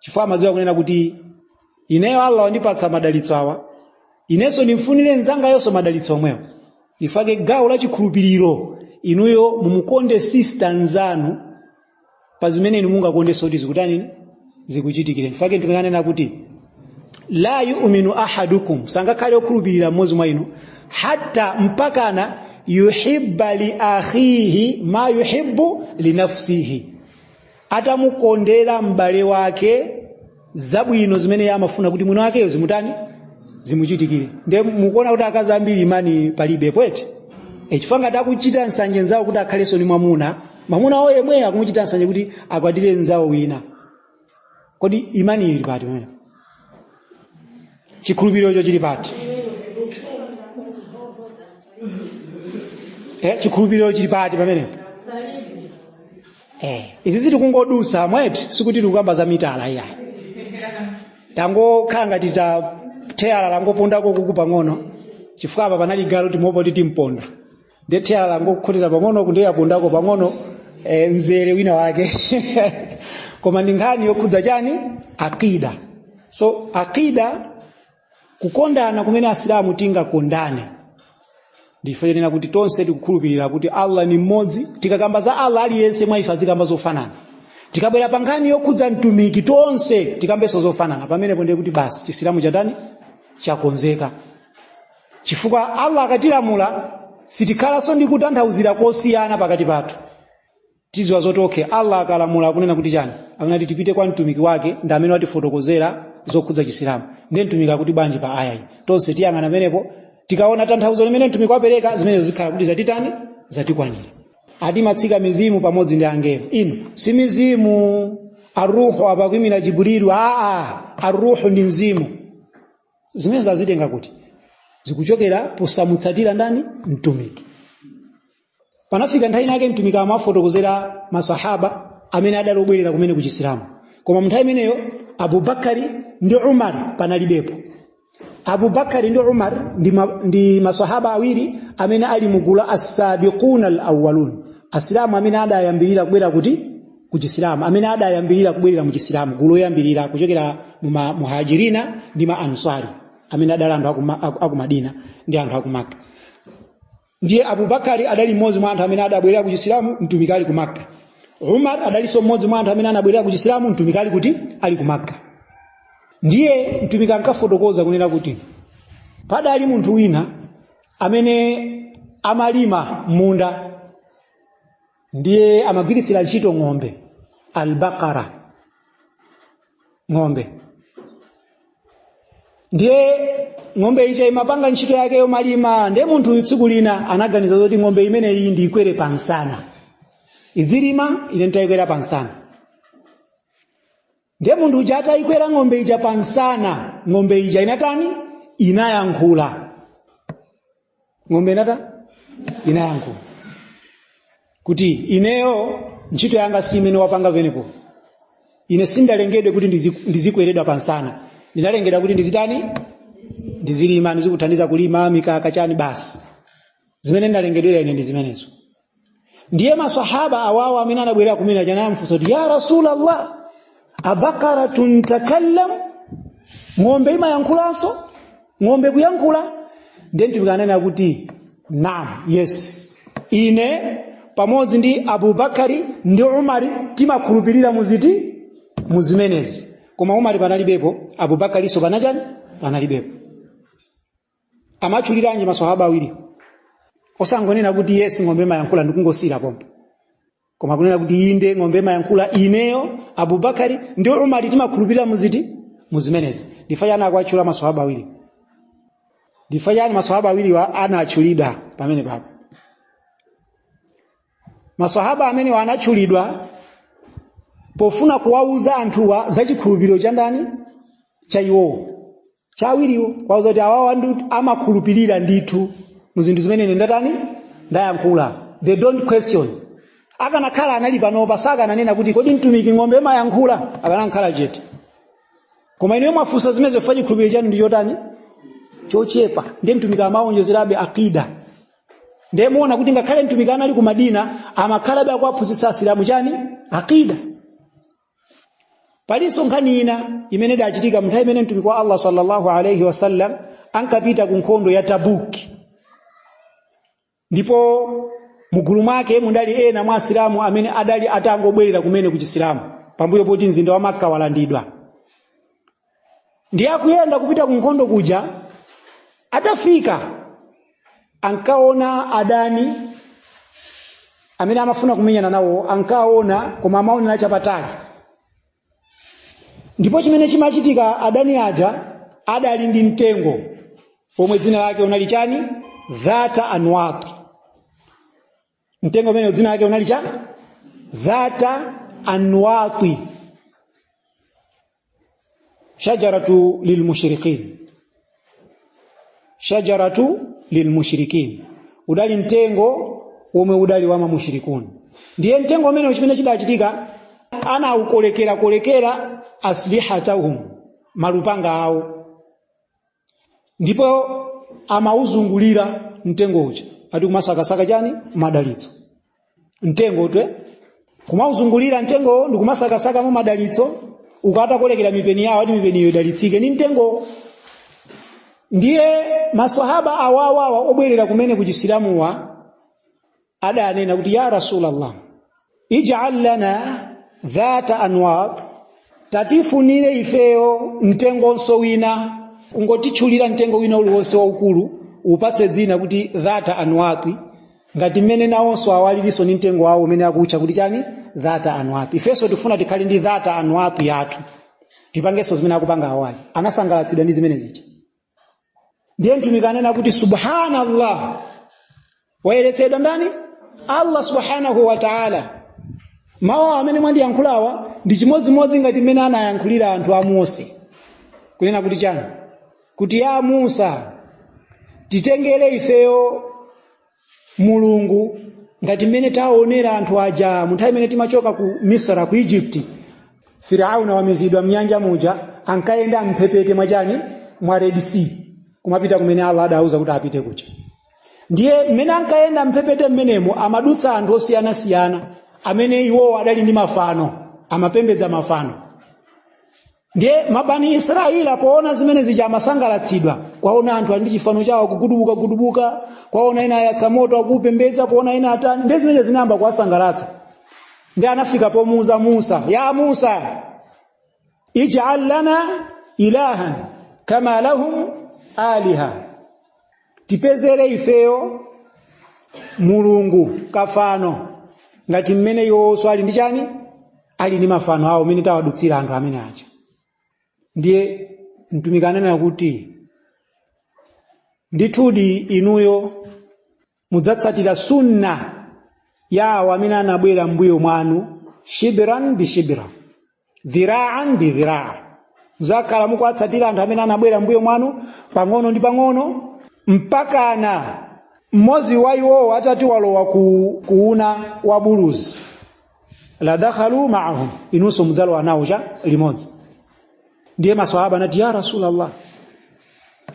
chifukwa amadziwa kunena kuti ineyo allah wandipatsa madalitso awa inenso ndimfunire mnzangayonso madalitso omwewo ndichifukwa chake gawo la chikhulupiriro inuyo mumukonde sista nzanu pa zimene inu mungakondenso kuti zikutanini zikuchitikire ndichifukwa chake ndikunena kuti la yuminu ahadukum sangakhale okhulupirira mmodzi mwa inu hatta mpakana yuhibba li akhihi ma yuhibbu linafsihi atamkondera m'bale wake zabwino zimene iye amafuna kuti mwini wakeyo zimutani zimuchitikire nde mukuona kuti akazi ambiri imani palibe pwete e, chifukwa ngati akuchita nsanje nzawo kuti akhalenso ni mwamuna mwamuna wo yemweyo akumuchita nsanje kuti akwatire nzawo wina kodi imani ili pati mene chikhulupirirocho chili pati eh, chikhulupiriro chili pati pamenepo eh, izi tikungodutsa mweti sikuti tikukamba za mitala iyayi tangokhala ngati ta theyala langopondako uku pang'ono chifukwa apa panali galu timopo titimponda nde theyala langokhotera pang'ono uku ndiye lapondako pang'ono e, mzere wina wake koma ndi nkhani yokhudza chani akida so akida kukondana kumene asilamu tingakondane ndi chonena kuti tonse tikukhulupirira kuti allah ni mmodzi tikakamba za allah aliyense mwa ife azikamba zofanana tikabwera pa nkhani yokhudza mtumiki tonse tikambenso zofanana pamenepo ndiye kuti basi chisilamu chatani chakonzeka chifukwa allah akatilamula sitikhalanso ndi kutanthauzira kosiyana pakati pathu tiziwa zoti okay allah akalamula akunena kuti chani akunena kuti tipite kwa mtumiki wake ndi amene watifotokozera zokhudza chisilamu ndiye mtumiki akuti bwanji pa aya iyi tonse tiyang'ana pamenepo tikaona tanthauzo limene mtumiki wapereka zimenezo zikhala kuti zatitani zatikwanira ati amatsika mizimu pamodzi ndi angelo iyo si mizimu aruhu apakwimira jibrilu aa aruhu ndi mzimu zimenezo azitenga kuti zikuchokera posamutsatira ndani mtumiki panafika nthawi inayake mtumiki amafotokozera masahaba amene adali obwera kumene ku chisilamu koma mnthawi imeneyo abubakari ndi umar panalibepo abubakari ndi umar ndi, ma, ndi masahaba awiri amene ali mugulu la asabiquna alawalun asilamu amene adayambirira kubwera kuti ku chisilamu amene adayambirira kubwerera mu chisilamu gulu loyambirira kuchokera mu ma- muhajirina ndi ma answari amene adali anthu aku Ma- aku- aku madina ndi anthu aku makka ndiye abubakari adali mmodzi mwa anthu amene adabwerera ku chisilamu mtumiki ali ku makka umar adalinso mmodzi mwa anthu amene anabwerera ku chisilamu mtumiki ali kuti ali ku makka ndiye mtumiki ankafotokoza kunena kuti padali munthu wina amene amalima munda ndiye amagwiritsira ntchito ng'ombe albaqara ng'ombe ndiye ng'ombe ija imapanga ntchito yake yomalima ndiye munthuyu tsiku lina anaganiza zoti ng'ombe imeneyi ndiikwere pamsana idzilima ine nditayikwera pamsana ndiye munthu uja atayikwera ng'ombe ija pa msana ng'ombe ija inatani inayankhula ng'ombe inata inayankhula kuti ineyo ntchito yanga si imene wapanga pamenepo ine sindalengedwe kuti ndizi- ndizikweredwa pa msana ndinalengedwa kuti ndizitani ndizilima ndizikuthandiza kulima mikaka chani basi zimene ndalengedwera ine ndi zimenezo ndiye maswahaba awawa amene anabwerera kumene aja anamfunsa kuti ya rasulallah abakaratun takallam ng'ombe imayankhulanso ng'ombe kuyankhula ndiye mtumiki ananena kuti naam yes ine pamodzi ndi abubakari ndi umari timakhulupirira muziti muzimenezi koma umari panalibepo abubakarinso panachani panalibepo amatchuliranji maswahaba awiri osangonena kuti yes ng'ombe imayankhula ndikungosiyira pompo koma kunena kuti inde ng'ombe imayankhula ineyo abubakari ndi umari timakhulupirira muziti muzimenezi ndifa chani akuwatchula maswahaba awiri ndifa chani maswahaba awiriwa anatchulidwa pamenepapo maswahaba amenewa anatchulidwa pofuna kuwauza anthuwa za chikhulupiriro cha ndani cha iwowo cha awiriwo kuwauza kuti awawa ndi amakhulupirira ndithu mu zinthu zimene ine ndatani ndayankhula they don't question akanakhala anali panopa sakananena kuti kodi mtumiki ng'ombe imayankhula akanakhala chete koma inuyo mwafunsa zimenezi chifukwa chikhulupiriro chanu ndi chotani chochepa ndiye mtumiki amawonjezerabe akida ndiye muona kuti ngakhale mtumiki anali ku madina amakhalabe akuwaphunzitsa asilamu chani akida palinso nkhani ina imene idachitika mnthawi imene mtumiki wa allah sallallahu alaihi wasallam ankapita ku nkhondo ya tabuki ndipo mugulu mwake mudali ena mwa asilamu amene adali atangobwerera kumene ku chisilamu pambuyo poti mzinda wa makka walandidwa ndiye akuyenda kupita ku nkhondo kuja atafika ankaona adani amene amafuna kumenyana nawo ankaona koma amaonera chapatali ndipo chimene chimachitika adani aja adali ndi mtengo omwe dzina lake unali chani dhata anwat mtengo umene dzina lake unali cha dhata anwati shajaratu lilmushriqin shajaratu lilmushriqin udali mtengo womwe udali wa mamushrikuni ndiye mtengo umene chimene chidachitika anaukolekerakolekera aslihatahum malupanga awo ndipo amauzungulira mtengo uja ati kumasakasaka chani madalitso mtengo twe kumauzungulira mtengo ndi kumasakasaka mu madalitso akatakolekera mipeni yawo ati mipeni iyo idalitsike ni mtengo ndiye maswahaba awawawa obwerera kumene ku chisilamuwa adanena kuti ya rasulallah ij'al lana dhata anwat tatifunire ifeyo mtengonso wina ungotitchulira mtengo wina uliwonse waukulu upatse dzina kuti dhata anwati ngati mmene nawonso awalirinso ndi mtengo wawo umene akutcha kuti chani dhata anwati ifenso tifuna tikhale ndi dhata anwati yathu tipangenso zimene akupanga awa aja anasangalatsidwa ndi zimene zija ndiye mtumiki anena kuti subhanallah wayeretsedwa ndani allah subhanahu wa taala mawu amene mwandiyankhulawa ndi chimodzimodzi ngati mmene anayankhulira anthu a mose kunena kuti chani kuti ya musa titengere ifeyo mulungu ngati mmene taonera anthu aja munthawi imene timachoka ku misra ku egypt firauna wamizidwa mnyanja muja ankayenda mphepete mwachani mwa red sea kumapita kumene allah adauza kuti apite kuja ndiye mmene ankayenda mphepete mmenemo amadutsa anthu osiyanasiyana amene iwowo adali ndi mafano amapembedza mafano ndiye mabani israeli poona zimene zija amasangalatsidwa kwaona anthu ali ndi chifano chawo akugudubukagudubuka kwaona ena ayatsa moto akuupembedza kwaona ena atani ndiye zimenezo zinayamba kuwasangalatsa ndiye anafika pomuuza musa ya musa ij'al lana ilahan kama lahum aliha tipezere ifeyo mulungu kafano ngati mmene iwonso ali ndi chani ali ndi mafano awo mmene tawadutsira anthu amene aja ndiye mtumiki ananena kuti ndithudi inuyo mudzatsatira sunna ya awo amene anabwera mbuyo mwanu shibiran bishibrin dhiraan bi dhiraa mudzakhala mukuwatsatira anthu amene anabwera mbuyo mwanu pang'ono ndi pang'ono mpakana mmodzi wa iwowo atati alowa ku, kuuna wa buluzi ladakhaltum maahum inunso mudzalowa nawo cha limodzi ndiye maswahaba anati ya rasulallah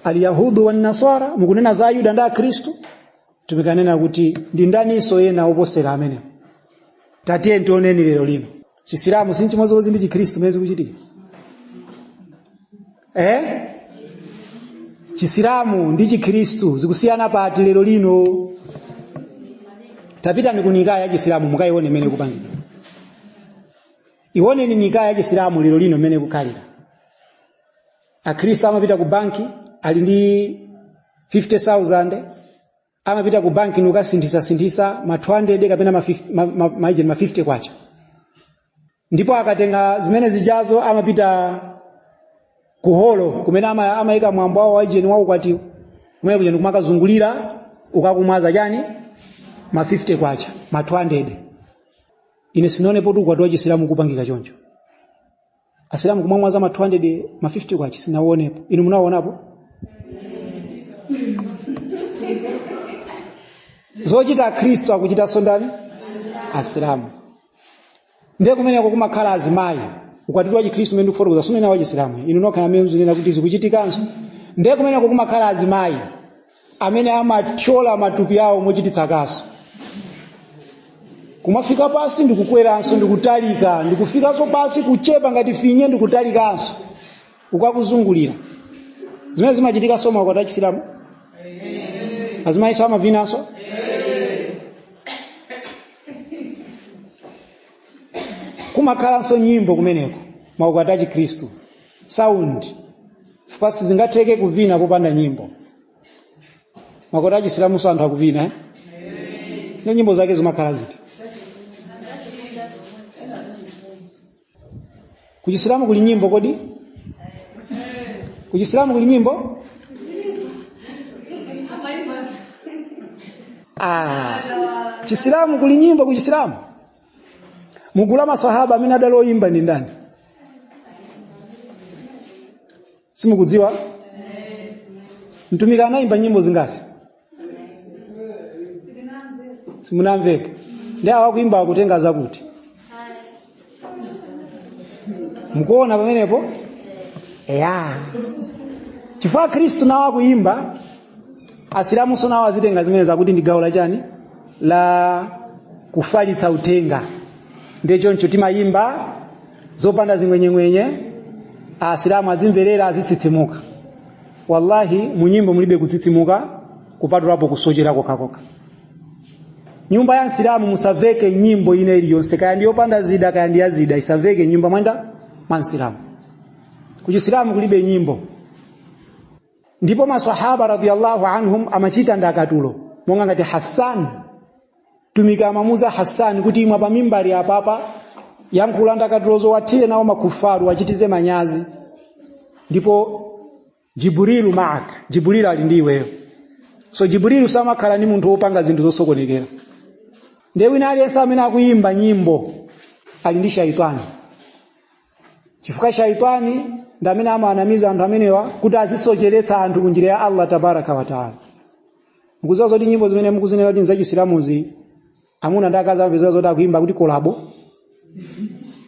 alyahudu wannasara mukunena za ayuda ndi akhristu mtumiki ananena kuti ndi ndaninso ena oposera amenewa tatiyeni tioneni lero lino chisilamu si chimodzimodzi ndi chikhristu mene zikuchitika eh? chisilamu ndi chikhristu zikusiyana pati lero lino tapitani ku nikaya ya chisilamu mukayione mene ikupangidwira iwoneni nikaya ya chisilamu lero lino mene ikukhalira akhristu amapita ku banki ali ndi 50000 amapita ku banki nkukasinthitsa-sinthitsa ma 200 kapena ma 50 ma- ma- ma- ije ma 50 kwacha ndipo akatenga zimene zijazo amapita ku holo kumene ama- amayika mwambo wawo waijeni wa ukwatiwo kumene kuja ndikumakazungulira uku akumwaza chani ma 50 kwacha ma 200 ine sinaonepo kuti ukwati wa chisilamu ukupangika choncho asilamu kumamwaza ma 200 ma 50 kwacha sinaonepo inu munaonapo zochita akhristu akuchitanso ndani asilamu ndiye kumeneko kumakhala azimayi ukwatiwo wa chikhristu umene ndikufotokoza si umene wa chisilamu inu nokha amene mukunena kuti zikuchitikanso ndiye kumeneko kumakhala azimayi amene amathyola matupi awo mochititsa kaso kumafika pansi ndikukweranso ndikutalika ndikufikanso pansi kuchepa ngati finye ndikutalikanso uku akuzungulira zimene zimachitikanso maukwati achisilamu azimayinso amavinanso kumakhalanso nyimbo kumeneko maukwati achikhristu sound chifukwa sizingatheke kuvina popanda nyimbo maukwati achisilamunso anthu akuvina eh? ndiye nyimbo zake zimakhala ziti kuchisilamu kuli nyimbo kodi kuchisilamu kuli nyimbo ah, chisilamu kuli nyimbo kuchisilamu mugulu la maswahaba amene adali oyimba ndi ndani simukudziwa mtumiki anayimba nyimbo zingati simunamvepo ndiye awa akuimba akutenga zakuti mukuona pamenepo eya chifukwa akhristu nawo akuimba asilamunso nawo azitenga zimene zakuti ndi gawo la chani la kufalitsa uthenga ndiye choncho timayimba zopanda zing'wenyeng'wenye asilamu azimverera azitsitsimuka wallahi munyimbo mulibe kutsitsimuka kupatulapo kusochera kokhakoka mnyumba ya msilamu musaveke nyimbo ina iliyonse kaya ndiyopanda zida kaya ndi yazida isaveke mnyumba mwanu mwa msilamu kuchisilamu kulibe nyimbo ndipo masahaba radiyallahu anhum amachita ndakatulo monga ngati hassan mtumiki amamuza hassan kuti ima pa mimbali apapa yankhula ndakatulo zowathira nazo makufaru uwachititse manyazi ndipo jibrilu maak jibrilu ali ndi iweyo so jibrilu samakhala ni munthu wopanga zinthu zosokonekera ndiye wina aliyense amene akuyimba nyimbo ali ndi shaitani chifukwa shaitani ndi amene amawanamiza anthu amenewa kuti azisocheretsa anthu ku njira ya allah tabaraka wataala mukuziwa zoti nyimbo zimene mukuzinena kuti nzachisilamuzi amuna ndi akazi amapezeka zoti akuimba akuti kolabo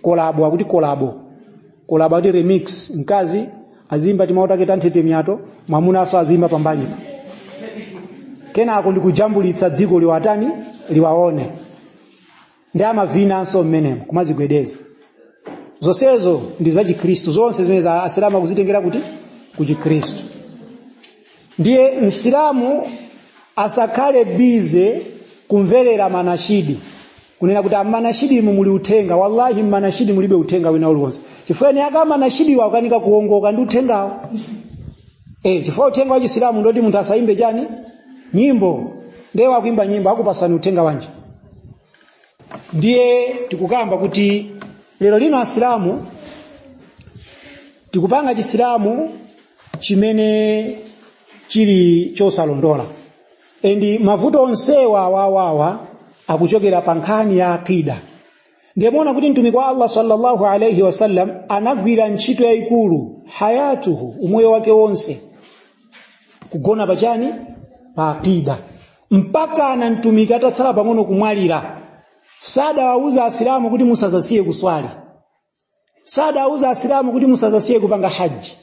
kolabo akuti kolabo kolabo akuti remix mkazi azimba timawu take tanthetemya to mwamunanso azimba pambalipo kenako ndikujambulitsa dziko liwatani liwaone ndi amavinanso mmenemo kumazigwedeza zonsezo ndi zachikhristu zonse zimenezo asilamu akuzitengera kuti kuchikhristu ndiye msilamu asakhale bize kumverera manashidi kunena kuti mmanashidimu muli uthenga wallahi mmanashidi mulibe uthenga wina uliwonse chifukwa eni ake amanashidiwo akanika kuongoka ndi uthengawo eh chifukwa uthenga wa chisilamu ndoti munthu asayimbe chani nyimbo ndiye wakuimba nyimbo akupasani uthenga wanji ndiye tikukamba kuti lero lino asilamu tikupanga chisilamu chimene chili chosalondola endi mavuto onsewa awa awa akuchokera pa nkhani ya akida ndiye muona kuti mtumiki wa allah sallallahu alaihi wasallam anagwira ntchito yayikulu hayatuhu umoyo wake wonse kugona pachani pa akida mpaka ana mtumiki atatsala pang'ono kumwalira sadawauze asilamu kuti musazasiye kuswali sadawauze asilamu kuti musazasiye kupanga haji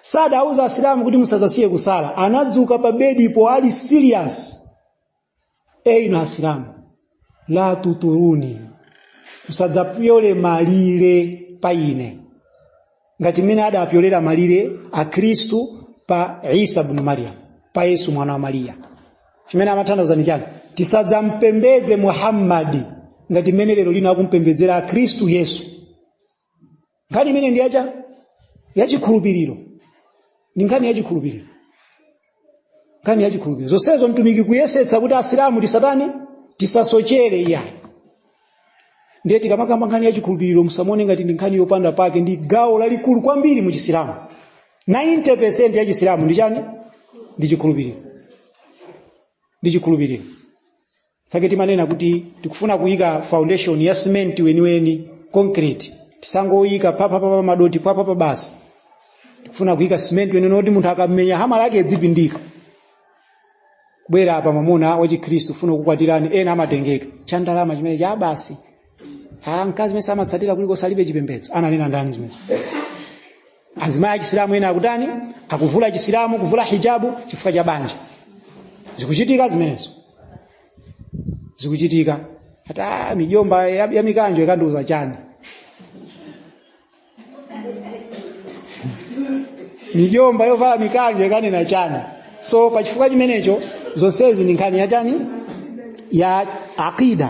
sadawauze asilamu kuti musazasiye kusala anadzuka pa bedipo ali serious eyi inu asilamu la tuturuni musadzapyole malire pa ine ngati mmene adapyolera malire akhristu pa isa bnu mariyamu pa yesu mwana wa mariya chimene amatanthauza ni chani tisadzampembedze muhammadi ngati mmene lero lino akumpembedzera akhristu yesu nkhani imene ndi ya chani yachikhulupiriro ndi nkhani yachikhulupiriro nkhani yachikhulupiriro zonsezo mtumiki kuyesetsa kuti asilamu tisatani tisasochere iyayi ndiye tikamakamba nkhani yachikhulupiriro musamuone ngati ndi nkhani yopanda pake ndi gawo lalikulu kwambiri mu chisilamu 90% ya chisilamu ndi chani ndi chikhulupiriro ndi chikhulupiriro chake timanena kuti tikufuna kuyika foundation ya simenti weniweni concrete tisangoyika papapapa madoti papapa basi tikufuna kuyika simenti weniweni kuti munthu akamenya hamala yake idzipindika bwera apa mwamuna wachikhristu funa kukwatirani ena amatengeka cha ndalama chimene cha basi ha mkazi mesa amatsatira kulikonse alibe chipembedzo ananena ndani zimene azimayi achisilamu ena akutani akuvula chisilamu kuvula hijabu chifukwa cha banja zikuchitika zimenezo zikuchitika hata mijomba ya, ya mikanjo ikanduza chani mijomba yovala mikanjo ikanena chani so pa chifukwa chimenecho zonsezi ndi nkhani ya chani ya aqida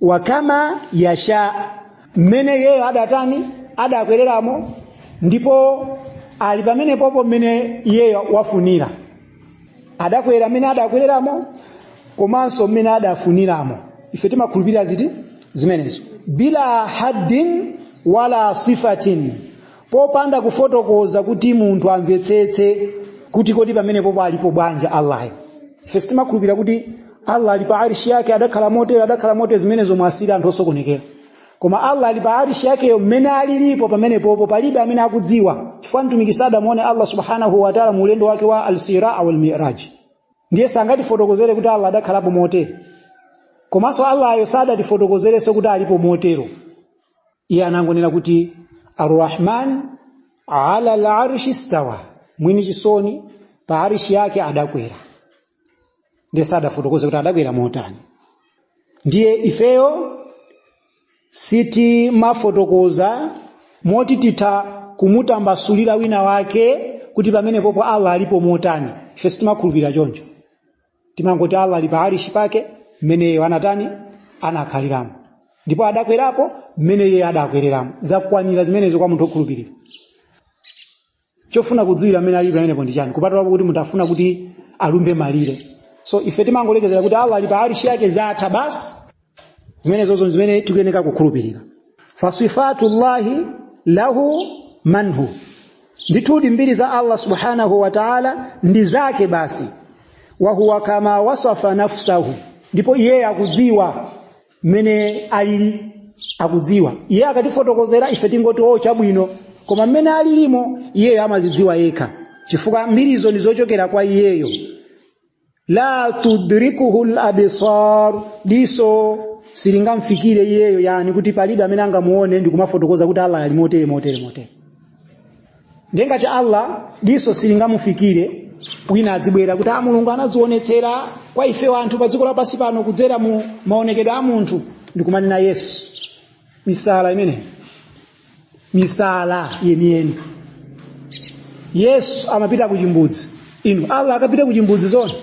wakama yasha mmene iyeyo adatani adakwereramo ndipo ali pamene popo mmene iyeyo wafunira adakwera mmene adakwereramo komanso mmene adafuniramo ife timakhulupirira ziti zimenezo bila haddin wala sifatin popanda kufotokoza kuti munthu amvetsetse kuti kodi pamenepopo alipo bwanji allayo ife timakhulupirira kuti allah ali pa arishi yake adakhala motere adakhala motere zimenezo muwasiire anthu osokonekera koma allah ali pa arishi yakeyo mmene alilipo pamenepopo palibe amene akudziwa chifukwa mtumiki sadamuone allah subhanahu wataala mu ulendo wake wa alisraa walmiraj ndiye sangatifotokozere kuti allah adakhalapo motere komanso allayo sadatifotokozerenso kuti alipo motero iye anangonena kuti arrahman ala larshi stawa mwini chisoni pa arishi yake adakwera ndiye sadafotokoza kuti adakwera motani ndiye ifeyo sitimafotokoza moti titha kumutambasulira wina wake kuti pamenepopo allah alipo motani ife sitimakhulupirira choncho timangoti allah ali pa arishi pake mmene iyeyo anatani anakhaliramo ndipo adakwerapo mmene iye adakwereramo zakwanira zimenezo kwa munthu okhulupirira chofuna kudziwira mmene alipo pamenepo ndi chani kupatulapo kuti munthu afuna kuti alumbe malire so ife timangolekezera kuti allah ali pa arishi yake zatha basi zimenezozo ndi zimene tikuyeneka kukhulupirira fasifatullahi lahu minhu ndithudi mbiri za allah subhanahu wa taala ndi zake basi wahuwa kama wasafa nafsahu ndipo iye akudziwa mmene alili akudziwa iyeyo akatifotokozera ife tingoti o chabwino koma mmene alilimo iyeyo amazidziwa yekha chifukwa mbirizo ndi zochokera kwa iyeyo la tudrikuhu l abisar diso silingamfikire iyeyo yani kuti palibe amene angamuone ndi kumafotokoza kuti allah ali motere motere motere ndiye ngati allah diso silingamufikire wina adzibwera kuti a mulungu anadzionetsera kwa ife anthu pa dziko lapansi pano kudzera mu maonekedwe a munthu ndikumanena yesu misala imeneyi misala yeniyeni yesu amapita kuchimbudzi inu allah akapita kuchimbudzi zona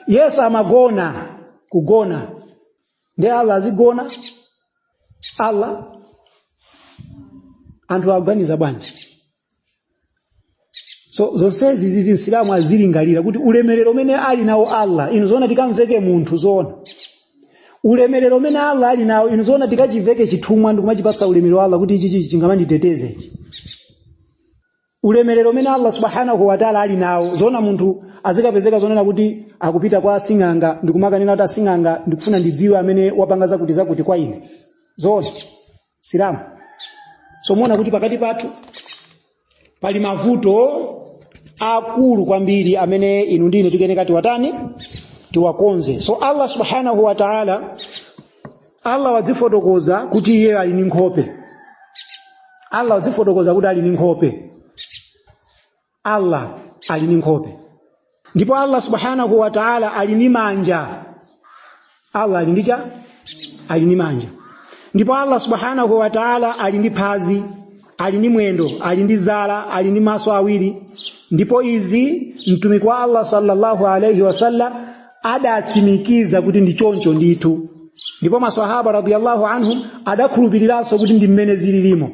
yesu amagona kugona nde allah azigona allah anthu aganiza bwanji so zonsezi izi msilamu azilingalira kuti ulemerero umene ali nawo allah inu zoona tikamveke munthu zoona ulemerero umene allah ali nawo inu zoona tikachiveke chithumwa ndikumachipatsa ulemerero allah kuti ichi ichi chingamanditeteze ichi ulemerero umene allah subhanahu wataala ali nawo zoona munthu azikapezeka zonena kuti akupita kwa asing'anga ndikumakanena kuti asing'anga ndikufuna ndidziwe amene wapanga zakuti zakuti kwa ine zoona asilamu so muona kuti pakati pathu pali mavuto akulu kwambiri amene inu ndi ine tikuyeneka tiwatani tiwakonze so allah subhanahu wa taala allah wadzifotokoza kuti iye ali ndi nkhope allah wadzifotokoza kuti ali ndi nkhope allah ali ndi nkhope ndipo allah subhanahu wa taala ali ndi manja allah ali ndi chani ali ndi manja ndipo allah subhanahu wa taala ali ndi phazi ali ndi mwendo ali ndi zala ali ndi maso awiri ndipo izi mtumiki wa allah sallallahu alaihi wasallam adatsimikiza kuti ndi choncho ndithu ndipo maswahaba radiyallahu anhum adakhulupiriranso kuti ndi mmene zililimo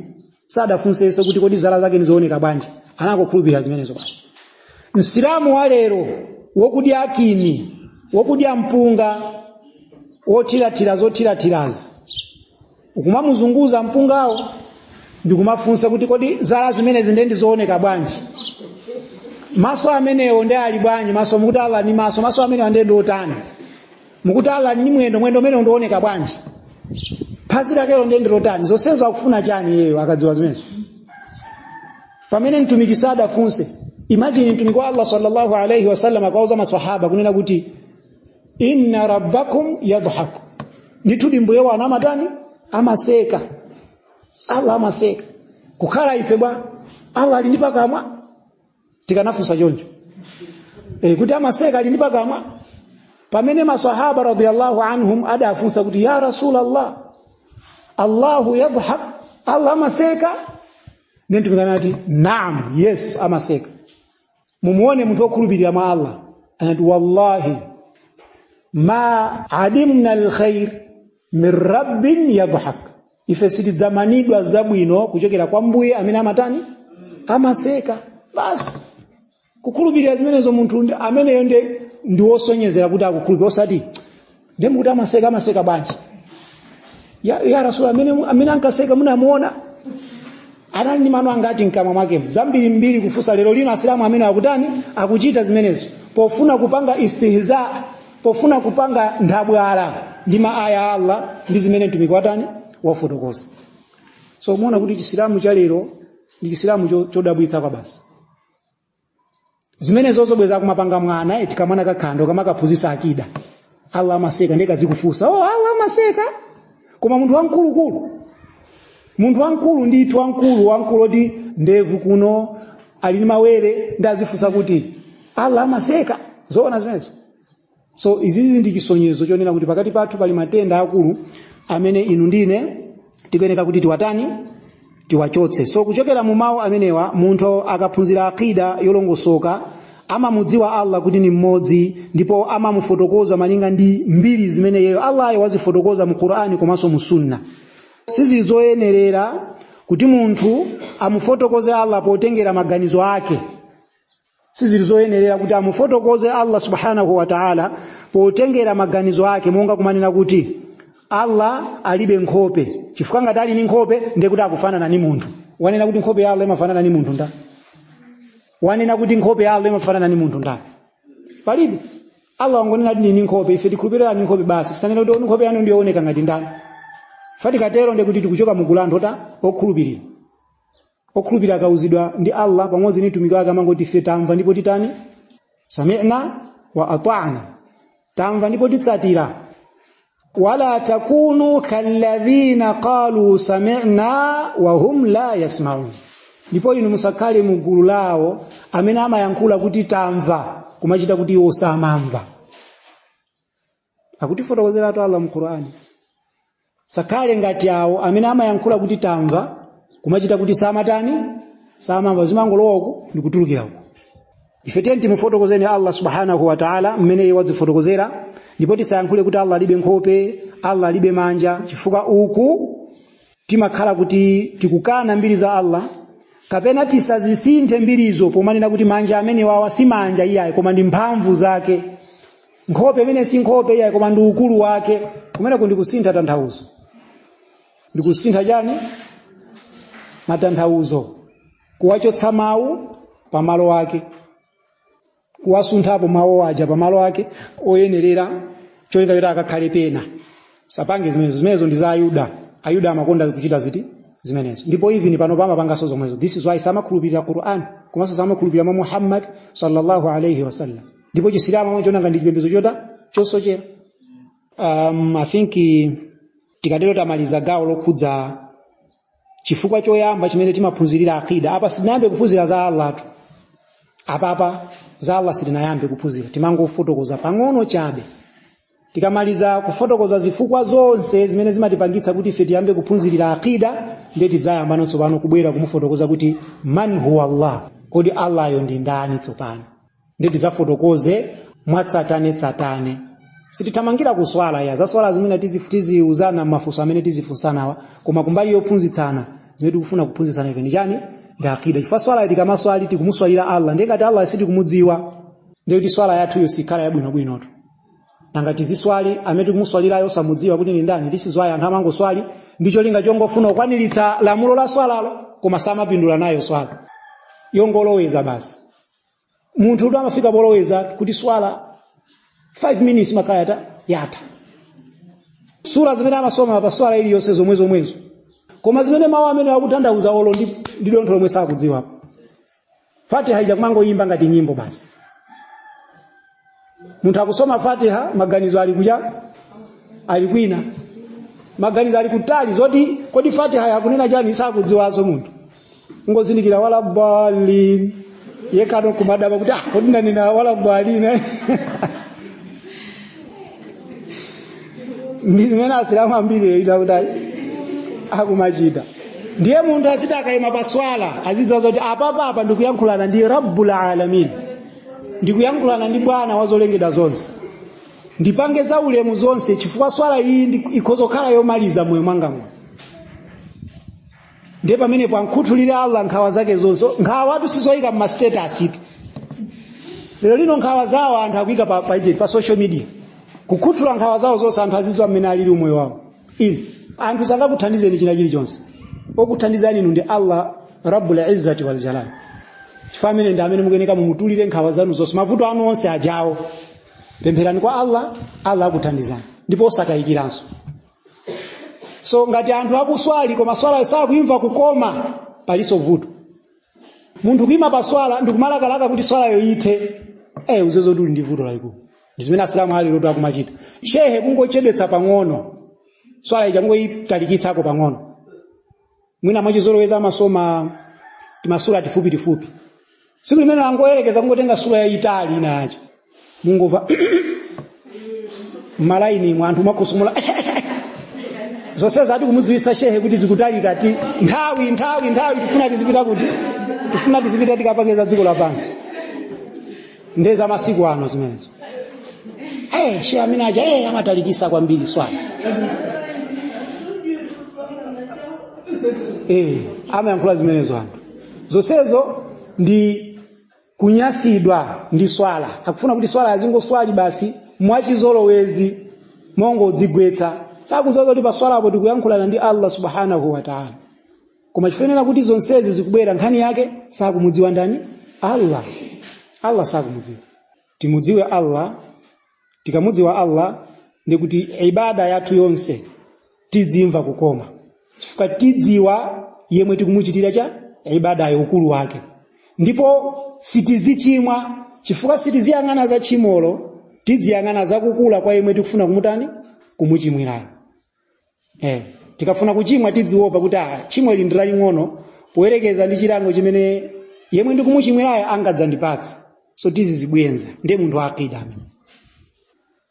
sadafunsenso kuti kodi zala zake ndizooneka bwanji anangokhulupirira zimenezo basi msilamu wa lero wokudya akini wokudya mpunga wothirathira zothirathirazi ukumamuzunguza mpungawo ndikumafunsa kuti kodi zala zimenezi nde ndizooneka bwanji maso amenewo nde ali bwanji maso mukuti allah ali ndi maso maso amenewa nde ndiotani mukuti allah ali ndi mwendo mwendo umene ngooneka bwanji phazi lakelo ndiye ndilotani zonsezo akufuna chani iyeyo akadziwa zimenezo pamene mtumiki sadafunse imagine mtumiki wa allah sallallahu alaihi wasallam akauza maswahaba kunena kuti inna rabbakum yadhaku ndithudi mbuye wanu amatani amaseka allah amaseka kukhala ife bwa allah ali ndi pakamwa tikanafunsa choncho e, kuti amaseka ali ndi pakamwa pamene masahaba radiyallahu anhum adafunsa kuti ya rasulallah allahu yadhhak allah amaseka ndiye mtumiki anati naam yes amaseka mumuone munthu wokhulupirira mwa allah anati wallahi ma adimna alkhair min rabbin yadhhak ife sitidzamanidwa zabwino kuchokera kwa mbuye amene amatani amaseka basi kukhulupirira zimenezo munthu ndi- ameneyo ndi ndi wosonyezera kuti akukhulupirira osati ndiye mukuti amaseka amaseka bwanji ya, ya rasul amene, amene ankaseka munamuona anali ndi mano angati mkamwa mwake zambiri mbiri kufunsa lero lino asilamu amene akutani akuchita zimenezo pofuna kupanga istihza pofuna kupanga nthabwala ndi maaya a allah ndi zimene mtumiki watani wafotokoza so muona kuti chisilamu cha lero ndi chisilamu cho- chodabwitsa kwa basi zimenezo zobweza kumapanga mwana eti kamwana kakhanda kumakaphunzitsa akida allah amaseka ndiye kazikufunsa oh allah amaseka koma munthu wamkulukulu munthu wamkulu ndithu wamkulu wamkulu oti ndevu kuno ali ndi mawere nde azifunsa kuti allah amaseka zoona zimenezo so izizi ndi chisonyezo chonena kuti pakati pathu pali matenda akulu amene inu ndi ine tikuyeneka kuti tiwatani tiwachotse so kuchokera mu mawu amenewa munthu akaphunzira akida yolongosoka amamudziwa allah kuti ni mmodzi ndipo amamufotokoza malinga ndi mbiri zimene iyeyo allayo wazifotokoza mu qur'ani komanso mu sunna sizili zoyenerera kuti munthu amufotokoze allah potengera maganizo ake sizili zoyenerera kuti amufotokoze allah subhanahu wa taala potengera maganizo ake monga kumanena kuti allah alibe nkhope chifukwa ngati ali ndi nkhope ndiye kuti akufanana ndi munthu wanena kuti nkhope ya allah imafanana ndi munthu ndani wanena kuti nkhope ya allah imafanana ndi munthu ndani palibe allah wangonena kuti ndini nkhope ife tikhulupirira ni nkhope basi tisanena kuti nkhope yanu ndiyooneka ngati ndani ife tikatero ndiye kuti tikuchoka mugulu lotani okhulupirira okhulupirira akauzidwa ndi Allah pamodzi ndi mtumiki wake amangoti ife tamva ndipo titatani sami'na wa ata'na tamva ndipo titsatira wala takunu kalladhina qalu sami'na wa hum la yasma'un ndipo inu musakhale mu gulu lawo amene amayankhula kuti tamva kumachita kuti iwo samamva akutifotokozeratu allah mu qur'ani musakhale ngati awo amene amayankhula kuti tamva kumachita kuti samatani samamva zimangolowa uku ndikutulukira uku ife tiyeni timufotokozeni allah subhanahu wa taala mmene iye wadzifotokozera ndipo tisayankhule kuti allah alibe nkhope allah alibe manja chifukwa uku timakhala kuti tikukana mbiri za Allah kapena tisazisinthe mbirizo pomanena kuti manja amenewawa si manja iyayi koma ndi mphamvu zake nkhope imene si nkhope iyayi koma ndi ukulu wake kumeneko ndikusintha tanthauzo ndikusintha chani matanthauzo kuwachotsa mawu pamalo ake kuwasunthapo mawu aja pamalo ake oyenerera cholinga choti akakhale pena musapange zimenezo zimenezo ndi za ayuda ayuda amakonda kuchita ziti zimenezo ndipo even pano amapanganso zomwezo this is why samakhulupirira quran komanso samakhulupirira mwa muhammad sallallahu alaihi wasallam ndipo chisilamu amachiona ngati chipembedzo chota chosochera um, i think eh, tikatero tamaliza gawo lokhudza chifukwa choyamba chimene timaphunzirira akida apa sitinayambe kuphunzira za allahtu apapa za allah sitinayambe kuphunzira timangofotokoza pang'ono chabe tikamaliza kufotokoza zifukwa zonse zimene zimatipangitsa kuti ife tiyambe kuphunzirira akida ndiye tidzayambano tsopano kubwera kumufotokoza kuti man huwa allah kodi allahyo ndi ndani tsopano ndiye tizafotokoze mwatsatanetsatane sitithamangira kuswala ya za swala zimene tizi- tiziuzana mafunso amene tizifunsanawa koma kumbali yophunzitsana zimene tikufuna kuphunzitsana ife ndi chani ndi akida chifukwa swala tikamaswali tikumuswalira allah ndiye ngati allah sitikumudziwa ndiye kuti swala yathuyo sikhala yabwinobwinotu nanga tiziswali amene tikumuswalirayo osamudziwa kuti ndi ndani this is why anthu amangoswali ndi cholinga chongofuna kukwaniritsa lamulo la swalalo koma samapindula nayo swala yongoloweza basi munthu kuti amafika poloweza kuti swala 5 minutes imakhala yatha yatha sura zimene amasoma pa swala iliyonse zomwe zomwezo koma zimene mawu amenewa akutanthauza olo ndi dontho lomwe sakudziwapo fatiha ija kumangoyimba ngati nyimbo basi munthu akusoma fatiha maganizo ali kucha ali kwina maganizo ali kutali zoti kodi fatiha ikunena chani sakudziwaso munthu kungozindikira wala dhalin yekano kumadabwa kuti ah kodi ndanena wala dhalin eh? ndi zimene asilamu ambiri leita kuti akumachita ndiye munthu asiti akayima paswala azidziwa zoti apapa apa ndikuyankhulana ndi rabbul alamin ndikuyankhulana ndi bwana wa zolengedwa zonse ndipange za ulemu zonse chifukwa swala iyi ndi- ikhoza kukhala yomaliza mmoyo mwanga muno ndiye pamenepo amukhuthulire allah nkhawa zake zonse nkhawazitu sizoyika mmastatus tu lero lino nkhawa zawo anthu akuyika pa, pa, pa social media kukhuthula nkhawa zawo zonse anthu azidziwa mmene alili umoyo wawo inu anthu sangakuthandizeni china chilichonse okuthandizani inu ndi allah rabbul izzati wal jalal chifukwa ameneyo ndi amene mukuyeneka mumutulire nkhawa zanu zonse mavuto anu onse ajawo pempherani kwa allah allah akuthandizani ndipo osakayikiranso so ngati anthu akuswali koma swalayo sakuimva kukoma palinso vuto munthu kuima pa swala ndikumalakalaka kuti swalayo ithe eh muzizo tuli ndi vuto lalikulu ndizimene asilamu a lerotu akumachita shehe kungochedwetsa pang'ono swala ija kungoyitalikitsako pang'ono mwina mwachizolowezi amasoma timasura tifupi tifupi tsiku limene angoyerekeza kungotenga sura yayitali ina yace mungomva mmalaini mwa anthu akutsokomola zonse zati kumudziwitsa shehe kuti zikutalikatu nthawi nthawi nthawi tifuna tizipita kuti tifuna tizipita tikapange za dziko lapansi nde za masiku ano zimenezo hey, shehe amene aja hey, amatalikisa kwambiri swala eh, amayankhula zimenezo anthu zonsezo ndi kunyasidwa ndi swala akufuna kuti swala azingoswali basi mwachizolowezi mongodzigwetsa sakudziwa kuti pa swalapo tikuyankhulana ndi allah subhanahu wataala koma chifuniro kuti zonsezi zikubwera nkhani yake sakumudziwa ndani allah allah sakumudziwa timudziwe allah tikamudziwa allah ndi kuti ibada yathu yonse tidziimva kukoma chifukwa tidzidziwa yemwe tikumuchitira cha ibadayo ukulu wake ndipo sitizichimwa chifukwa sitiziyang'ana za tchimolo tidziyang'ana zakukula kwa yemwe tikufuna kumutani kumuchimwirayo eh tikafuna kuchimwa tidziwopa kuti ah tchimo ili ndilaling'ono poyerekeza ndi chilango chimene yemwe ndikumuchimwirayo angadzandipatse so tizizibweza ndiye munthu wa akida amene